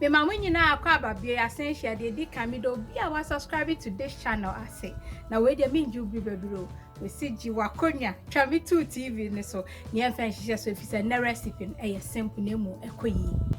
mema mo nyinaa akɔ aba bio yɛasen hyɛ deɛ ɛdi kan meda obi a wasubscribe to this channel ase na wei deɛ mengye wo bi bɛbiri o mesi gye wakɔnwa twa me too tv ne so neɛ mfa nhyehyɛ so ɛfiri sɛ nnɛ recipe no ɛyɛ simple na ɛmu ɛkɔ yie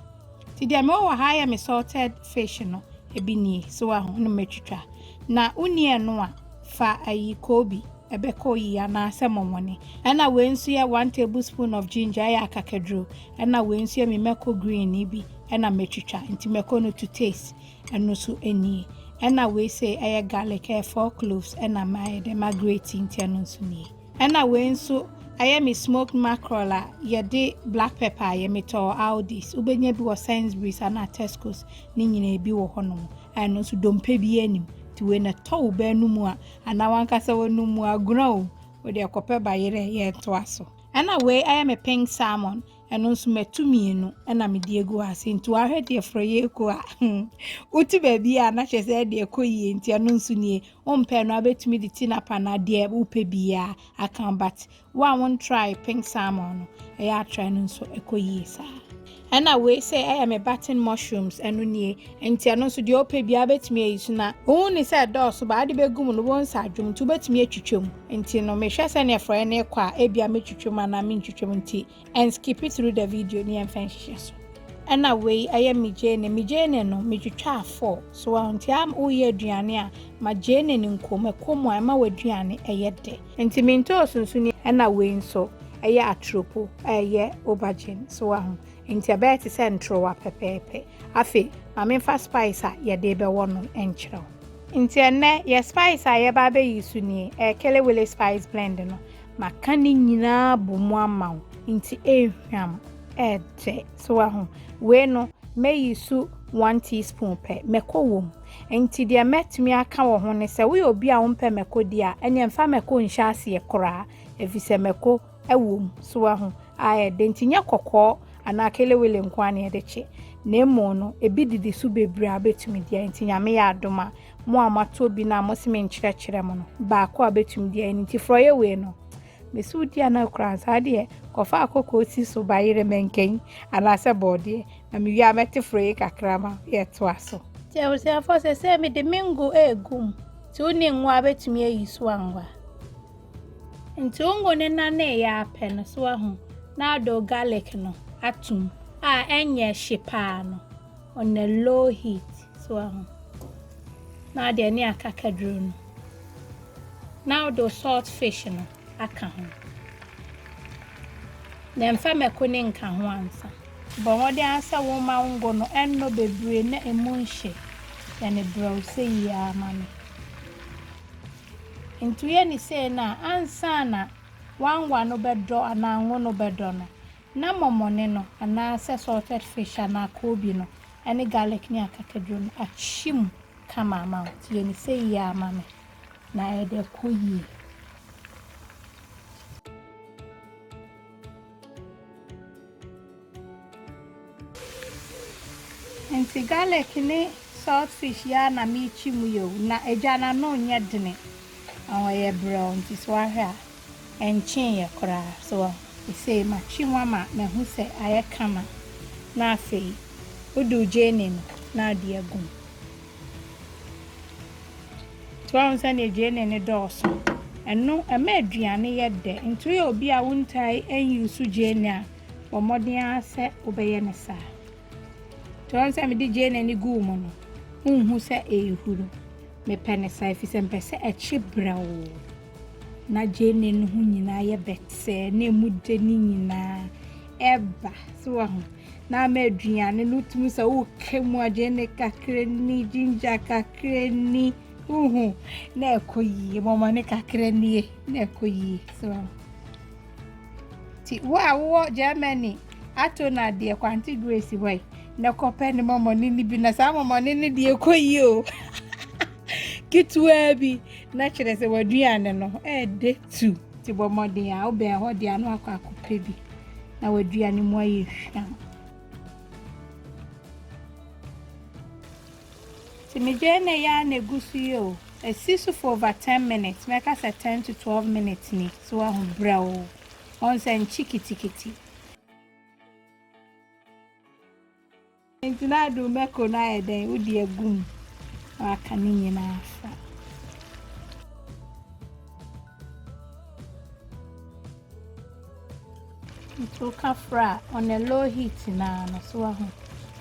Ti deɛ mewɔ wɔ ha yɛ me salted fish no ebi nie so wa ho no matwitwa na wonni ɛno a fa ayi kobi ɛbɛkɔ yi anaasɛ mɔmɔne ɛna wei nso yɛ one tablespoon of ginger ɛyɛ akakaduro ɛna wei nso yɛ me mako green ni bi ɛna matwitwa nti mako no to taste ɛno so nie ɛna wei sɛ ɛyɛ garlic ɛyɛ four cloves ɛna mayɛ dɛ ma grate nti ɛno nso nie. Ɛna wei nso ayɛ me smoked mackerel a yɛde black pepper ayɛ. Metɔɔ Aldi's, wobɛnya bi wɔ Sainsbury's anaa Tesco's, ne nyinaa bi wɔ hɔnom a ɛno nso dompe biara nnim. Nti wei na ɛtɔ wo bɛ no mu a anaa w'ankasa w'anom mu agorɔ o, wode ɛkɔpɛ bayerɛ, yɛntoa so. Ɛna wei ayɛ me pink salmon, ɛno nso matu mmienu na mede agu hɔ ase nti wahwɛ deɛ forɔyɛ ɛku a, wotu baabi a na kyerɛ sɛ ɛde ɛkɔ yie nti ɛno nso nie. Wompɛ no a wobɛtumi de tinapa anaa deɛ wopɛ biaa aka but wo a wontrae pink salmon no ɛyɛ a try no nso ɛkɔ yie saa. Ɛna wei sɛ ɛyɛ me button mushrooms ɛno nie nti ɛno nso deɛ wopɛ biaa wobɛtumi ayi so na wohu ne sɛ ɛdɔɔso but wode bɛgu mu no wobɛhu sɛ adwo mu nti wobɛtumi atwitwa mu nti no mehwɛ sɛdeɛ forɔeɛ no rekɔ a ebia mɛtwitwa mu anaa mentwitwa mu nti and skipi through the video ne yɛmfa nhyehyɛ so ɛna wei ɛyɛ me gyene me gyene no metwitwaa four so wɔn nti a woyɛ aduane a ma gyene no nko mɛkɔ mu a ɛma w'aduane ɛyɛ dɛ nti mentɔ ɔsunsuni ɛna wei nso ɛyɛ atoropo ɛyɛ aubergine so wɔ ho nti ɛbɛyɛ te sɛ ntorowa pɛpɛɛpɛ afei ma memfa spice a yɛde bɛwɔ no nkyerɛ wo nti ɛnɛ yɛ spice a yɛba abɛyi so nie ɛyɛ kelewele spice blend no Maka ne nyinaa abɔ mu ama wo, nti ehwam, ɛɛdɛ. So wahu? Wei no, mɛyi so one teaspoon pɛ. Mako wɔ mu. Nti deɛ mɛtumi aka wɔ ho ne sɛ, woyɛ obi a wompɛ mako di a, ɛneɛ mfa mako nhyɛ aseɛ koraa, efisɛ mako wɔ mu. So wahu? Aɛɛdɛ. Nti nyɛ kɔkɔɔ anaa kelewele nko ara na yɛde kye, na mmom no, ebi didi so bebree a wobɛtumi di a, nti Nyame yɛ adom a, Mo a moatɔ bi no a mose menkyerɛkyerɛ mo no, baako a obetumi de ayɛ no nti, forɔeɛ wei no, mese wo di anaa kura a, saa deɛ, kɔfa akɔkɔɔ si so, bayerɛ, mankanyi, anaasɛ bɔɔdeɛ, na mewie a mɛte forɔeɛ kakra ma yɛatoa so. Nti abusuafoɔ, seesei mede me ngo regu mu, nti wo ne ngo ara bɛtumi ayi so anwa. Nti wo ngo no naneeɛ ara pɛ no, so woahu, na wode wo garlic no atom, a ɛnyɛ hye paa no. on a low heat so aho na ade ɛne akakaduro no na wode wo salt fish no aka ho na mfa mako ne nka ho ansa bɔ mmɔden ara sɛ woma wo ngo no ɛnnɔ bebree na emu nhye yɛ ne brɛw sɛ yie ara ma me nti woyɛ ne sei no a ansa na wanwa no bɛdɔ anaa ngo no bɛdɔ no Ná mɔmɔne no, anaasɛ salted fish anaa koobi no, ne garlic ne akakaduro no akyim kama ama wo. Nti yɛ no seyi ara ma me, na ɛde akɔ yie. Nti garlic ne salt fish yi ara na merekyim yi o, na agya no ano nyɛ dene, na ɔyɛ brɛoo, nti sɛ woahwɛ a. Ɛnkyeeɛ koraa, so woahu? Ɛsei matwe mu ama mahu sɛ ayɛ kama. Na afei, woduu gyeene no, na ade agu mu. So woahu sɛdeɛ gyeene no dɔɔso? Ɛno, ɛma aduane yɛ dɛ. Nti woyɛ obi a wontaa nnyuusu gyeene a, bɔ mmɔden ara sɛ wobɛyɛ no saa. Nti woahu sɛ mede gyeene no guu mu no, wonhu sɛ ɛrehuru. Mepɛ no saa, ɛfiri sɛ mepɛ sɛ ɛkye brɛoo. Na gyeene no ho nyinaa yɛ bɛtɛɛ na emu de ne nyinaa ɛba so wɔ ho na ama aduane no tumi sɛ woka mu a gyeene kakra ni ginger kakra ni wohu na ɛkɔ yie mɔmɔne kakra nie na ɛkɔ yie so wɔ ho nti wo a wowɔ germany ato no adeɛ kwante grace hɔ yi na kɔpɛ ne mɔmɔne no bi na saa mɔmɔne no deɛ ɛkɔ yie o Ketewaa bi na kyerɛ sɛ w'aduane no ɛɛdɛ tu. Ti bɔ mmɔden a wobɛn hɔ de ano akɔ akɔpɛ bi na w'aduane mu ayɛ hwam. Ti megyae na ɛyɛ a na egu so yi o. Esi so for over ten minutes mɛka sɛ ten to twelve minutes ni so wahu brɛw. Ɔn sɛ nkye kitikiti. Enti na ade mako no ayɛ dɛn? Wode agu mu na waka ne nyinaa afra. Nti woka fra a, on a low heat na no so wɔ ho.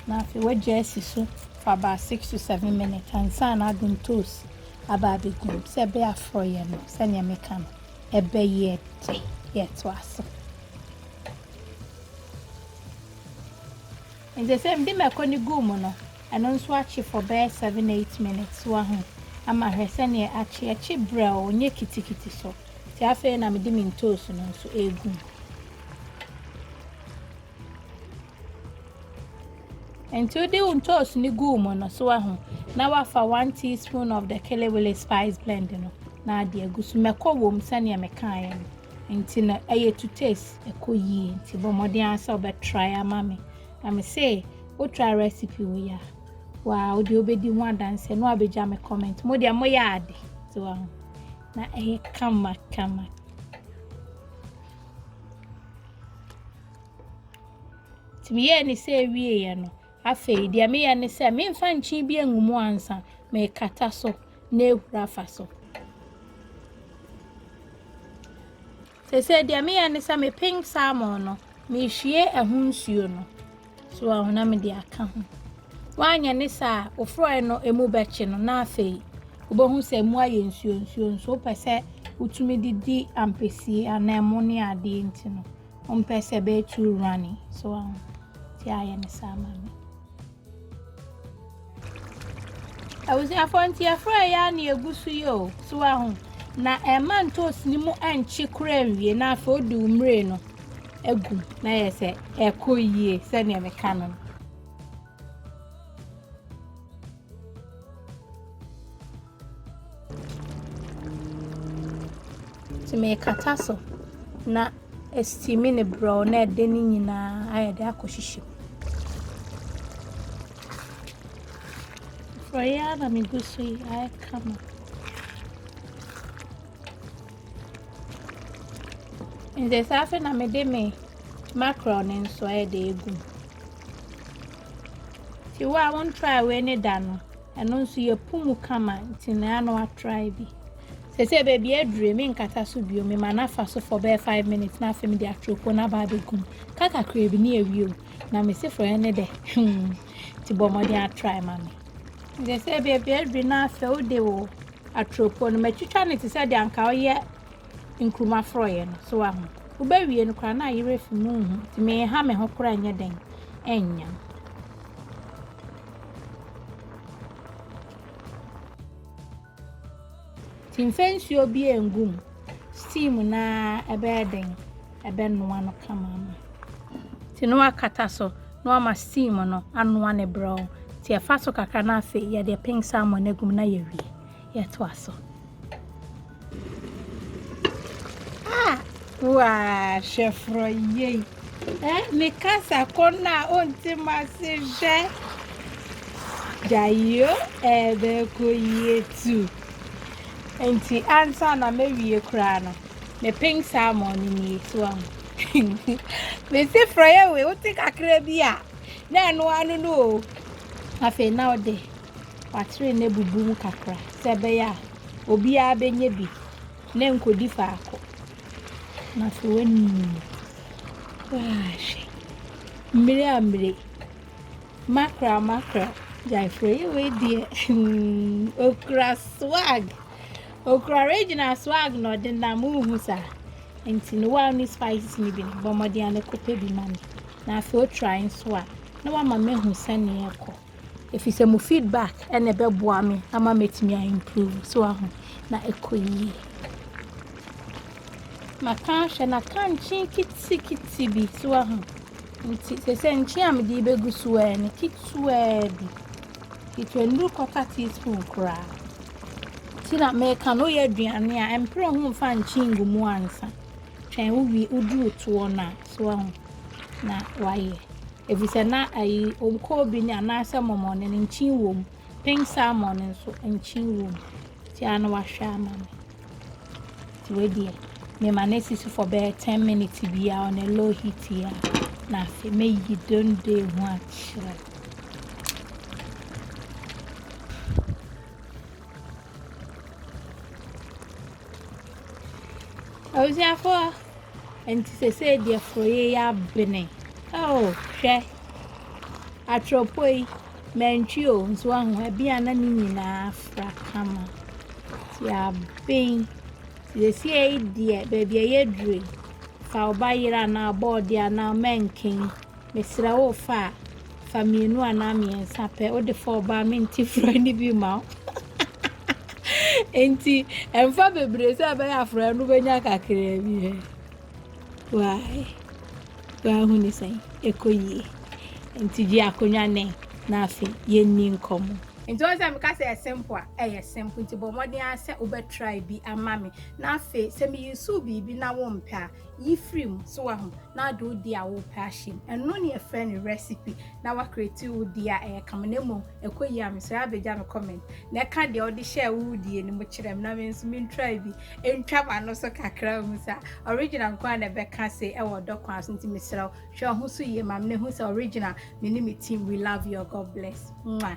Na afei wagya asi so for about six to seven minutes ansa na adom toast aba abɛgu mu sɛ ɛbɛyɛ aforɔ yɛ no sɛnea meka no ɛbɛyɛ de yɛto ase. Ntsi sɛ mede mako no gu mu no, ɛno nso akye for bɛyɛ seven eight minutes, wahu, ama hwɛ sɛdeɛ akye, ɛkye brɛoo, ɔnyɛ kitikiti so. Nti afei na mede me ntoosi no nso regu mu. Nti wode wo ntoosi no gu mu no, so wahu, na wafa one teaspoon of the kelewele spice blend no, na ade agu so. Mako wɔ mu sɛdeɛ mekaeɛ no. Nti no ɛyɛ to taste ɛkɔ yie nti bɔ mmɔden ara sɛ wobɛ try ama me na me se wo try recipe wo ya waa wo deɛ wobɛdi ho adanseɛ na wabɛgya me comment mo deɛ mo yɛ ade ti wa ho na ɛyɛ kama kama nti meyɛɛ ne sɛ ɛwieɛ no Afei, deɛ meyɛ ne sɛ, memfa nkyen bi ngu mu ansa, mekata so na ahuru afa so. Seesei deɛ meyɛ ne sɛ, mepeng salmon no, mehwie ɛho nsuo no. So wahu na mede aka ho. Woanyɛ ne saa a, wofrɔe no emu bɛkye no na afei wobɛhu sɛ emu ayɛ nsuo nsuo nso wopɛ sɛ wotumi de di ampesie anaa ɛmo ne adeɛ nti no. Ɔmpɛ sɛ bɛyɛ too runny so wɔn um, ti ayɛ ne saa ma me. Abusuafoɔ nti ɛfrɛ yɛ a ne egu so yi o so wɔn um, na ɛma ntoosi ne mu ɛnkye kora nwie na afei odi umire no egu na yɛ sɛ ɛkɔ yie sɛdeɛ meka no no. Nti mekata so na ɛstimi ne brɛw na ɛde ne nyinaa ayɛ de akɔ hyehye mu. Frɔyɛ ara na megu so yi ayɛ kama. Nti saa afei na mede me mackerel ne nso ayɛ de egu mu. Nti wo a won try wei ne da no, ɛno nso yɛ pu mu kama nti na ano atry bi. Sɛ sɛ baabi adure me nkata so bio me ma nafa so for bɛyɛ 5 minutes na afei me de atropon na ba abɛgum. Ka kakra bi ne awie o. Na me se frɛ ne dɛ. Hmm. Nti bɔ mmɔden atry ma me. Sɛ sɛ baabi adure na afei wode wo atropon no matwitwa ne te sɛ de anka woyɛ nkruma forɔeɛ no. So wahu? Wobɛwie no koraa na ayi werɛ afi mu nhu nti menha me ho koraa nyɛ dɛn nnyam. Nti mfa nsuo bi ngu mu steam na ɛbɛyɛ dɛn ɛbɛnoa no kama ma. Nti na wakata so na wama steam no anoa ne brɛw. Nti ɛfa so kakra na afei yɛde pink salmon no agu mu na yɛwie. yɛtoa so. Ah, waa, hwɛ forɔ yei. Eh, me kasa kɔ no a ɔnti ma se hwɛ. Gyayo ɛbɛkɔ yie tu. Nti ansa na mɛwie koraa no, me pink salmon no nie so ahu. Mesi forɔ yɛ wei, wote kakra bi a, na ɛno ano no o. Afei na ɔde. Watene no abubu mu kakra sɛ ɛbɛyɛ a obiara bɛnya bi na ɛnkɔdi faako. Na sɛ wani waahwɛ mmire a mmire makra makra gyaefrɛ yɛ wei deɛ okura swag okura regional swag na ɔde nam wohu saa nti no wa ne spices no bi no bɔ mmɔden a ne kɔpɛ bi ma me na afei otra nso a na wama mehu sɛnea ɛkɔ Ɛfiri sɛ mo feedback na ɛbɛboa me ama matumi a improve so aho na ɛkɔ yie. Maka ahwɛ na ka nkye kitikiti bi so aho nti sɛ sɛ nkye a mede bɛgu so ɛ ne ketewa bi ketewa nnuru kɔta teaspoon koraa nti na meka no yɛ aduane a ɛmpere ho mfa nkye ngu mu ansa twɛn wowie woduru toɔ no a so aho na wayɛ. Efisɛ na ayi, onkoobi ne anaasɛ mɔmɔne no, nkyen wom, pink salmon no nso, nkyen wom. Nti ara na wahwɛ ama me. Nti wei deɛ, mema no asisi for bɛyɛ ten minutes bi a on a low heat yi a, na afei meyi dondoe ho akyerɛ. Abusuafoɔ. Nti sesei deɛ forɔyɛ yi abene. Oh hwɛ. Atorɔpɔ yi, mantwi o, nso ahu ebi a na ne nyinaa afra kama. Ti aben. Sesei deɛ baabi a yɛdure, fa wo ba yere anaa bɔɔde anaa mɛnken Mesrɛ wo fa a, fa mmienu anaa mmiɛnsa pɛ. Wode fa ɔbaa a, mente frɔe no bi ma wo. Enti, ɛmfa bebree sɛ ɛbɛyɛ afrɔe no bɛnya kakraa bi hɛ. Wae, wahu ne sɛn, ɛkɔ yie. Enti gye akonnwa nɛ na afei yɛnni nkɔmmɔ. Nti wohu sɛ meka sɛ ɛyɛ simple a, ɛyɛ simple. Nti bɔ mmɔden ara sɛ wobɛtrae bi ama me. Na afei, sɛ me use biribi na wompɛ a, Yi firi mu, so wahu? Na wode wo deɛ a wopɛ ahyɛ mu. Ɛno ne yɛfrɛ no recipe. Na wa create wo deɛ a ɛyɛ kama. Na mmom, ɛkɔ yie a, mesrɛ abɛgya me comment na ɛka deɛ wode hyɛɛ wo deɛ no mu kyerɛ me na me nso men try bi ntwa m'ano so kakra nhu sɛ original nko a na ɛbɛka se ɛwɔ ɔdɔ kwan so. Nti mesrɛ wo, hwɛ wo ho so yie ma me na ɛhu sɛ original me ne me team we love you God bless. Mwah.